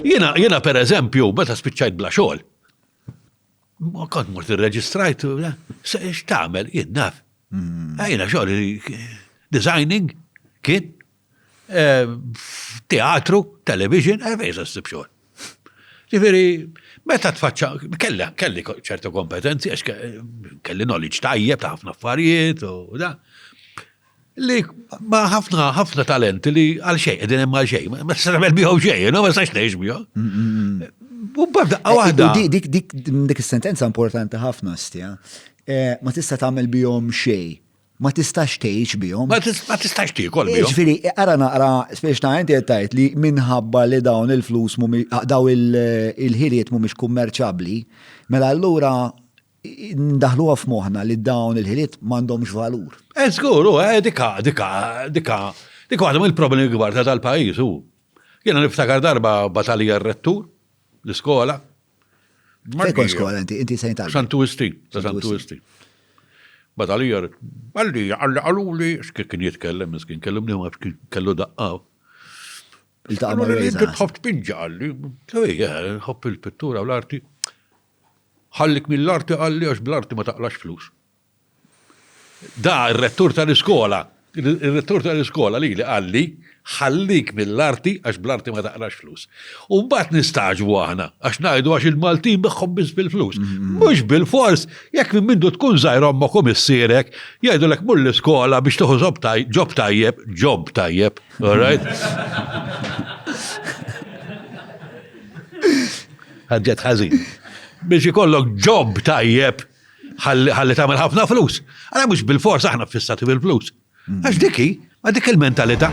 Jiena jiena pereżempju meta spiċċajt bla xogħol. Kont mort irreġistrajt, eh, se x'tagħmel jien naf. Hmm. Eh, jiena xogħol eh, designing kien teatru, television, fejn se ssib xogħol. Ġifieri, meta tfaċċa, kelli kelli ċertu kompetenzi għax kelli knowledge tajjeb ta' ħafna affarijiet u da. li ma ħafna ħafna talenti li għal xejn, qegħdin hemm għal xejn, ma tistax tagħmel bihom xejn, ma tistax tgħix bihom. Mm, mm, mm. U b'daqqa eh, waħda. Dik is-sentenza importanti ħafna stja. Eh, ma tista' tagħmel bihom xejn. Ma tistax tgħix bihom. Ma tistax tiekol eh, bihom. Ġifieri, ara naqra spiex ta' inti tajt li minħabba li dawn il-flus ah, daw il-ħiliet mhumiex kummerċabbli, mela allura ndaħluha f'moħħna li dawn il-ħiliet m'għandhomx valur. Eh, żgur, u eh, dika, dika, dika, dika għadhom il-problemi kbar ta' tal-pajjiż u. Jiena niftakar darba batalija r-rettur, l-iskola. Fejkon skola, inti, inti sejn tal. Santu Isti, ta' Santu Isti. Batalija, għalli, għalli, għalli, xkien kien jitkellem, xkien kellem li xkien kellu daqqa. Il-taqqa ma' l-għalli. Tħobb tpinġa għalli, tħobb il-pittura u l-arti. Ħallik mill-arti qalli għax bl-arti ma taqlax flus. Da r-rettur tal-iskola, ir-rettur tal-iskola lili qalli ħallik mill-arti għax bl-arti ma taqlax flus. U mbagħad nistagħġbu aħna għax ngħidu għax il-Maltin begħhom biss bil-flus. Mhux bilfors, jekk minn mindu tkun żgħir ommok u missierek jgħidulek mur l-iskola biex tieħu ġob tajjeb, job tajjeb, alright? Ħadġet ħażin. Biex ikollok ġob tajjeb ħalli tagħmel ħafna flus. Għala mhux bil-fors aħna fissati bil-flus. Mm. Għax diki, ma dik il-mentalità.